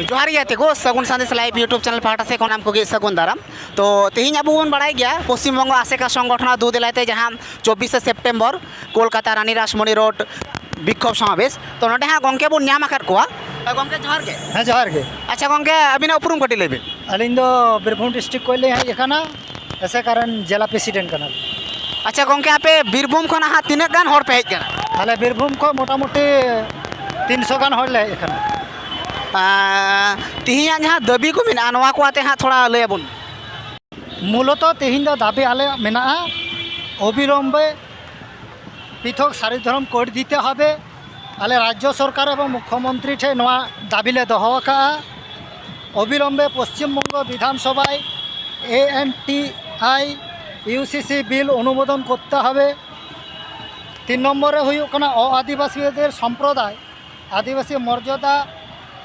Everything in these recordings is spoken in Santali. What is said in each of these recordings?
ᱡᱚᱦᱟᱨ ᱜᱮ ᱛᱮᱜᱳ Sagun Sandesh live YouTube channel ᱯᱟᱦᱴᱟ ᱥᱮᱫ ᱠᱷᱚᱱ ᱟᱢ ᱠᱚᱜᱮ ᱥᱟᱹᱜᱩᱱ ᱫᱟᱨᱟᱢ ᱛᱚ ᱛᱮᱦᱮᱧ ᱟᱵᱚ ᱵᱚᱱ ᱵᱟᱲᱟᱭ ᱜᱮᱭᱟ ᱯᱚᱥᱪᱤᱢ ᱵᱚᱝᱜᱚ ᱟᱥᱮᱠᱟ ᱥᱚᱝᱜᱚᱴᱷᱚᱱ ᱫᱩ ᱫᱮᱞᱟᱭ ᱛᱮ ᱡᱟᱦᱟᱸ ᱪᱚᱵᱵᱤᱥᱮ ᱥᱮᱯᱴᱮᱢᱵᱚᱨ ᱠᱳᱞᱠᱟᱛᱟ ᱨᱟᱱᱤ ᱨᱟᱥᱢᱚᱱᱤ ᱨᱳᱰ ᱵᱤᱠᱠᱷᱳᱵᱽ ᱥᱚᱢᱟᱵᱮᱥ ᱛᱚ ᱱᱚᱰᱮ ᱦᱟᱸᱜ ᱜᱚᱢᱠᱮ ᱵᱚᱱ ᱧᱟᱢ ᱟᱠᱟᱫ ᱠᱚᱣᱟ ᱜᱚᱢᱠᱮ ᱡᱚᱦᱟᱨ ᱜᱮ ᱦᱮᱸ ᱡᱚᱦᱟᱨ ᱜᱮ ᱟᱪᱪᱷᱟ ᱜᱚᱢᱠᱮ ᱟᱹᱵᱤᱱᱟᱜ ᱩᱯᱨᱩᱢ ᱠᱟᱹᱴᱤᱡ ᱞᱟᱹᱭ ᱵᱤᱱ ᱟᱹᱞᱤᱧ ᱫᱚ ᱵᱤᱨᱵᱷᱩᱢ ᱰᱤᱥᱴᱨᱤᱠ ᱠᱷᱚᱱ ᱞᱤᱧ ᱦᱮᱡ ᱟᱠᱟᱱᱟ ᱮᱥᱮᱠᱟ ᱨᱮᱱ ᱡᱮᱞᱟ ᱯᱨᱮᱥᱤᱰᱮᱱᱴ ᱠᱟᱱᱟᱞᱤᱧ ᱟᱪᱪᱷᱟ ᱜᱚᱢᱠᱮ ᱟᱯᱮ ᱵᱤᱨᱵᱷᱩᱢ ᱠᱷᱚᱱ ᱦᱟᱸᱜ ᱛᱤᱱᱟᱹᱜ ᱜᱟᱱ ᱦᱚᱲ ᱯᱮ ᱦᱮᱡ ᱠᱟᱱᱟ ᱟᱞᱮ ᱵᱤᱨᱵᱷᱩᱢ ᱠᱷᱚᱱ ᱢᱳᱴᱟᱢᱩᱴᱤ ᱛᱤᱱᱥᱚ ᱜᱟᱱ ᱦᱚᱲ ᱞᱮ ᱦᱮᱡ ᱠᱟᱱᱟ ᱛᱮᱦᱮᱧᱟᱜ ᱡᱟᱦᱟᱸ ᱫᱟᱹᱵᱤ ᱠᱚ ᱢᱮᱱᱟᱜᱼᱟ ᱱᱚᱣᱟ ᱠᱚ ᱟᱛᱮ ᱦᱟᱸᱜ ᱛᱷᱚᱲᱟ ᱞᱟᱹᱭ ᱟᱵᱚᱱ ᱢᱩᱞᱚᱛᱚ ᱛᱮᱦᱮᱧ ᱫᱚ ᱫᱟᱹᱵᱤ ᱟᱞᱮᱭᱟᱜ ᱢᱮᱱᱟᱜᱼᱟ ᱚᱵᱤᱞᱚᱢᱵᱮ ᱯᱨᱤᱛᱷᱚᱠ ᱥᱟᱨᱤ ᱫᱷᱚᱨᱚᱢ ᱠᱳᱰ ᱫᱤᱛᱮ ᱦᱚᱵᱮ ᱟᱞᱮ ᱨᱟᱡᱽᱡᱚ ᱥᱚᱨᱠᱟᱨ ᱮᱵᱚᱝ ᱢᱩᱠᱷᱭᱚᱢᱚᱱᱛᱨᱤ ᱴᱷᱮᱱ ᱱᱚᱣᱟ ᱫᱟᱹᱵᱤ ᱞᱮ ᱫᱚᱦᱚ ᱟᱠᱟᱫᱼᱟ ᱚᱵᱤᱞᱚᱢᱵᱮ ᱯᱚᱥᱪᱤᱢ ᱵᱚᱝᱜᱚ ᱵᱤᱫᱷᱟᱱ ᱥᱚᱵᱷᱟᱭ A N T I U C C bill ᱚᱱᱩᱢᱳᱫᱚᱱ ᱠᱚᱨᱛᱮ ᱦᱚᱵᱮ ᱛᱤᱱ ᱱᱚᱢᱵᱚᱨ ᱨᱮ ᱦᱩᱭᱩᱜ ᱠᱟᱱᱟ ᱚ ᱟᱹᱫᱤᱵᱟᱹᱥᱤᱭᱟᱹᱫᱮᱨ ᱥᱚᱢᱯᱨᱚᱫᱟᱭ ᱟᱹᱫᱤᱵᱟᱹᱥᱤ ᱢᱚᱨᱡᱟᱫᱟ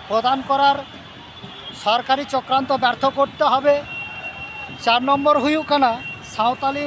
ᱯᱨᱚᱫᱟᱱ ᱠᱚᱨᱟᱨ ᱥᱚᱨᱠᱟᱨᱤ ᱪᱚᱠᱨᱟᱱᱛᱚ ᱵᱮᱨᱛᱷᱚ ᱠᱚᱨᱛᱮ ᱦᱚᱵᱮ ᱪᱟᱨ ᱱᱚᱢᱵᱚᱨ ᱦᱩᱭᱩᱜ ᱠᱟᱱᱟ ᱥᱟᱶᱛᱟᱞᱤ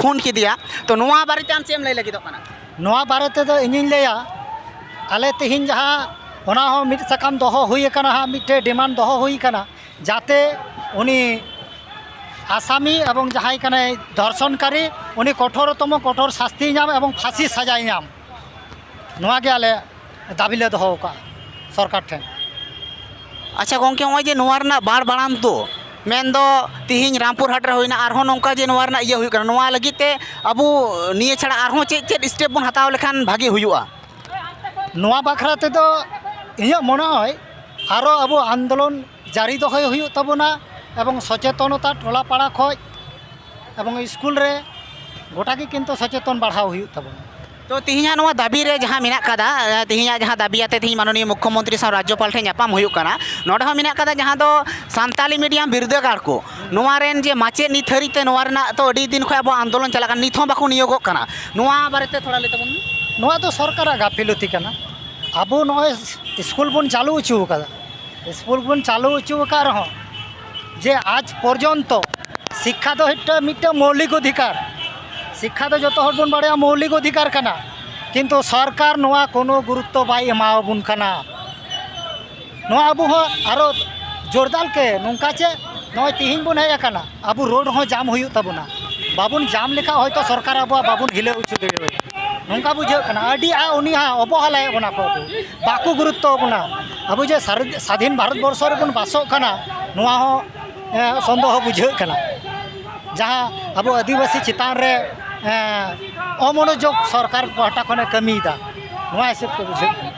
ᱠᱷᱩᱱ ᱠᱮᱫᱮᱭᱟ ᱛᱚ ᱱᱚᱣᱟ ᱵᱟᱨᱮᱛᱮ ᱟᱢ ᱪᱮᱫ ᱮᱢ ᱞᱟᱹᱭ ᱞᱟᱹᱜᱤᱫᱚᱜ ᱠᱟᱱᱟ ᱱᱚᱣᱟ ᱵᱟᱨᱮ ᱛᱮᱫᱚ ᱤᱧᱤᱧ ᱞᱟᱹᱭᱟ ᱟᱞᱮ ᱛᱮᱦᱮᱧ ᱡᱟᱦᱟᱸ ᱚᱱᱟ ᱦᱚᱸ ᱢᱤᱫ ᱥᱟᱠᱟᱢ ᱫᱚᱦᱚ ᱦᱩᱭ ᱟᱠᱟᱱᱟ ᱦᱟᱸᱜ ᱢᱤᱫᱴᱮᱡ ᱰᱤᱢᱟᱱᱰ ᱫᱚᱦᱚ ᱦᱩᱭ ᱟᱠᱟᱱᱟ ᱡᱟᱛᱮ ᱩᱱᱤ ᱟᱥᱟᱢᱤ ᱮᱵᱚᱝ ᱡᱟᱦᱟᱸᱭ ᱠᱟᱱᱟᱭ ᱫᱷᱚᱨᱥᱚᱱᱠᱟᱨᱤ ᱩᱱᱤ ᱠᱚᱴᱷᱳᱨ ᱛᱚᱢᱚ ᱠᱚᱴᱷᱳᱨ ᱥᱟᱥᱛᱤᱭ ᱧᱟᱢ ᱮᱵᱚᱝ ᱯᱷᱟᱥᱤ ᱥᱟᱡᱟᱭ ᱧᱟᱢ ᱱᱚᱣᱟ ᱜᱮ ᱟᱞᱮ ᱫᱟᱹᱵᱤ ᱞᱮ ᱫᱚᱦᱚ ᱟᱠᱟᱫᱼᱟ ᱥᱚᱨᱠᱟᱨ ᱴᱷᱮᱱ ᱟᱪᱪᱷᱟ ᱜᱚᱢᱠᱮ ᱱᱚᱜᱼᱚᱭ ᱡᱮ ᱱᱚᱣᱟ ᱨᱮᱱᱟᱜ ᱵᱟᱲ ᱵᱟᱲᱟᱝ ᱫᱚ ᱢᱮᱱ ᱫᱚ ᱛᱮᱦᱮᱧ ᱨᱟᱢᱯᱩᱨ ᱦᱟᱴ ᱨᱮ ᱦᱩᱭᱱᱟ ᱟᱨᱦᱚᱸ ᱱᱚᱝᱠᱟ ᱡᱮ ᱱᱚᱣᱟ ᱨᱮᱱᱟᱜ ᱤᱭᱟᱹ ᱦᱩᱭᱩᱜ ᱠᱟᱱᱟ ᱱᱚᱣᱟ ᱞᱟᱹᱜᱤᱫ ᱛᱮ ᱟᱵᱚ ᱱᱤᱭᱟᱹ ᱪᱷᱟᱲᱟ ᱟᱨᱦᱚᱸ ᱪᱮᱫ ᱪᱮᱫ ᱥᱴᱮᱯ ᱵᱚᱱ ᱦᱟᱛᱟᱣ ᱞᱮᱠᱷᱟᱱ ᱵᱷᱟᱹᱜᱤ ᱦᱩᱭᱩᱜᱼᱟ ᱱᱚᱣᱟ ᱵᱟᱠᱷᱨᱟ ᱛᱮᱫᱚ ᱤᱧᱟᱹᱜ ᱢᱚᱱᱮ ᱦᱚᱭ ᱟᱨᱚ ᱟᱵᱚ ᱟᱱᱫᱳᱞᱚᱱ ᱡᱟᱹᱨᱤ ᱫᱚᱦᱚᱭ ᱦᱩᱭᱩᱜ ᱛᱟᱵᱚᱱᱟ ᱮᱵᱚᱝ ᱥᱚᱪᱮᱛᱚᱱᱚᱛᱟ ᱴᱚᱞᱟ ᱯᱟᱲᱟ ᱠᱷᱚᱱ ᱮᱵᱚᱝ ᱤᱥᱠᱩᱞ ᱨᱮ ᱜᱚᱴᱟ ᱜᱮ ᱠᱤᱱᱛᱩ ᱥᱚᱪᱮᱛᱚᱱ ᱵᱟᱲᱦᱟᱣ ᱦᱩᱭᱩᱜ ᱛᱟᱵᱚᱱᱟ ᱛᱚ ᱛᱮᱦᱮᱧᱟᱜ ᱱᱚᱣᱟ ᱫᱟᱹᱵᱤ ᱨᱮ ᱡᱟᱦᱟᱸ ᱢᱮᱱᱟᱜ ᱠᱟᱫᱟ ᱛᱮᱦᱮᱧᱟᱜ ᱡᱟᱦᱟᱸ ᱫᱟᱹᱵᱤ ᱟᱛᱮ ᱛᱮᱦᱮᱧ ᱢᱟᱱᱚᱱᱤᱭᱚ ᱢᱩᱠᱠᱷᱚ ᱢᱚᱱᱛᱨᱤ ᱥᱟᱶ ᱨᱟᱡᱽᱡᱚᱯᱟᱞ ᱴᱷᱮᱱ ᱧᱟᱯᱟᱢ ᱦᱩᱭᱩᱜ ᱠᱟᱱᱟ ᱱᱚᱰᱮ ᱦᱚᱸ ᱢᱮᱱᱟᱜ ᱠᱟᱫᱟ ᱡᱟᱦᱟᱸ ᱫᱚ ᱥᱟᱱᱛᱟᱲᱤ ᱢᱤᱰᱤᱭᱟᱢ ᱵᱤᱨᱫᱟᱹᱜᱟᱲ ᱠᱚ ᱱᱚᱣᱟ ᱨᱮᱱ ᱡᱮ ᱢᱟᱪᱮᱫ ᱱᱤᱛ ᱦᱟᱹᱨᱤᱡ ᱛᱮ ᱱᱚᱣᱟ ᱨᱮᱱᱟᱜ ᱛᱚ ᱟᱹᱰᱤ ᱫᱤᱱ ᱠᱷᱚᱱ ᱟᱵᱚᱣᱟᱜ ᱟᱱᱫᱳᱞᱚᱱ ᱪᱟᱞᱟᱜ ᱠᱟᱱᱟ ᱱᱤᱛ ᱦᱚᱸ ᱵᱟᱠᱚ ᱱᱤᱭᱳᱜᱚᱜ ᱠᱟᱱᱟ ᱱᱚᱣᱟ ᱵᱟᱨᱮ ᱛᱮ ᱛᱷᱚᱲᱟ ᱞᱟᱹᱭ ᱛᱟᱵᱚᱱ ᱢᱮ ᱱᱚᱣᱟ ᱫᱚ ᱥᱚᱨᱠᱟᱨᱟᱜ ᱜᱟᱹᱯᱷᱤᱞᱚᱛᱤ ᱠᱟᱱᱟ ᱟᱵᱚ ᱱᱚᱜᱼᱚᱭ ᱤᱥᱠᱩᱞ ᱵᱚᱱ ᱪᱟᱹᱞᱩ ᱦᱚᱪᱚ ᱠᱟᱫᱟ ᱥᱠᱩᱞ ᱵᱚᱱ ᱪᱟᱹᱞᱩ ᱦᱚᱪᱚ ᱟᱠᱟᱫ ᱨᱮᱦᱚᱸ ᱡᱮ ᱟᱡᱽ ᱯᱚᱨᱡᱚᱱᱛᱚ ᱥᱤᱠᱠᱷᱟ ᱫᱚ ᱢᱤᱫᱴᱟᱝ ᱢᱤᱫᱴᱟᱝ ᱢᱳᱣᱞᱤᱠ ᱚᱫᱷᱤᱠᱟᱨ ᱥᱤᱠᱠᱷᱟ ᱫᱚ ᱡᱚᱛᱚ ᱦᱚᱲ ᱵᱚᱱ ᱵᱟᱲᱟᱭᱟ ᱢᱳᱣᱞᱤᱠ ᱚᱫᱷᱤᱠᱟᱨ ᱠᱟᱱᱟ ᱠᱤᱱᱛᱩ ᱥᱚᱨᱠᱟᱨ ᱱᱚᱣᱟ ᱠᱳᱱᱳ ᱜᱩᱨᱩᱛᱛᱚ ᱵᱟᱭ ᱮᱢᱟ ᱟᱵᱚᱱ ᱠᱟᱱᱟ ᱱᱚᱣᱟ ᱟᱵᱚ ᱦᱚᱸ ᱟᱨᱚ ᱡᱳᱨᱫᱟᱨ ᱛᱮ ᱱᱚᱝᱠᱟ ᱪᱮ ᱱᱚᱜᱼᱚᱭ ᱛᱮᱦᱮᱧ ᱵᱚᱱ ᱦᱮᱡ ᱟᱠᱟᱱᱟ ᱟᱵᱚ ᱨᱳᱰ ᱦᱚᱸ ᱡᱟᱢ ᱦᱩᱭᱩᱜ ᱛᱟᱵᱚᱱᱟ ᱵᱟᱵᱚᱱ ᱡᱟᱢ ᱞᱮᱠᱷᱟᱱ ᱦᱚᱭᱛᱳ ᱥᱚᱨᱠᱟᱨ ᱟᱵᱚᱣᱟᱜ ᱵᱟᱵᱚᱱ ᱦᱤᱞᱟᱹᱣ ᱦᱚᱪᱚ ᱫᱟᱲᱮᱣᱟᱭᱟ ᱱᱚᱝᱠᱟ ᱵᱩᱡᱷᱟᱹᱜ ᱠᱟᱱᱟ ᱟᱹᱰᱤ ᱟᱸᱴ ᱩᱱᱤ ᱦᱚᱸ ᱚᱵᱚᱦᱮᱞᱟᱭᱮᱫ ᱵᱚᱱᱟ ᱠᱚ ᱵᱟᱠᱚ ᱜᱩᱨᱩᱛᱛᱚ ᱠᱟᱱᱟ ᱟᱵᱚ ᱡᱮ ᱥᱟᱫᱷᱤᱱ ᱵᱷᱟᱨᱚᱛ ᱵᱚᱨᱥᱚ ᱨᱮᱵᱚᱱ ᱵᱟᱥᱚᱜ ᱠᱟᱱᱟ ᱱᱚᱣᱟ ᱦᱚᱸ ᱥᱚᱱᱫᱮᱦᱚ ᱵᱩᱡᱷᱟᱹᱜ ᱠᱟᱱᱟ ᱡᱟᱦᱟᱸ ᱟᱵᱚ ᱟᱹᱫᱤᱵᱟᱹᱥᱤ ᱪᱮᱛᱟᱱ ᱨᱮ ᱚᱢᱚᱱᱚᱡᱳᱜᱽ ᱥᱚᱨᱠᱟᱨ ᱯᱟᱦᱴᱟ ᱠᱷᱚᱱᱮ ᱠᱟᱹᱢᱤᱭᱮᱫᱟ ᱱᱚᱣᱟ ᱦᱤᱥᱟᱹᱵ ᱛᱮ ᱵᱩᱡᱷᱟᱹᱜ ᱠᱟᱱᱟ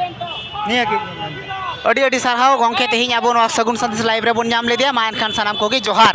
ᱱᱤᱭᱟᱹᱜᱮ ᱟᱹᱰᱤ ᱟᱹᱰᱤ ᱥᱟᱨᱦᱟᱣ ᱜᱚᱢᱠᱮ ᱛᱮᱦᱮᱧ ᱟᱵᱚ ᱱᱚᱣᱟ ᱥᱟᱹᱜᱩᱱ ᱥᱟᱸᱫᱮᱥ ᱞᱟᱭᱤᱵᱷ ᱨᱮᱵᱚᱱ ᱧᱟᱢ ᱞᱮᱫᱮᱭᱟ ᱢᱟ ᱮᱱᱠᱷᱟᱱ ᱥᱟᱱᱟᱢ ᱠᱚᱜᱮ ᱡᱚᱦᱟᱨ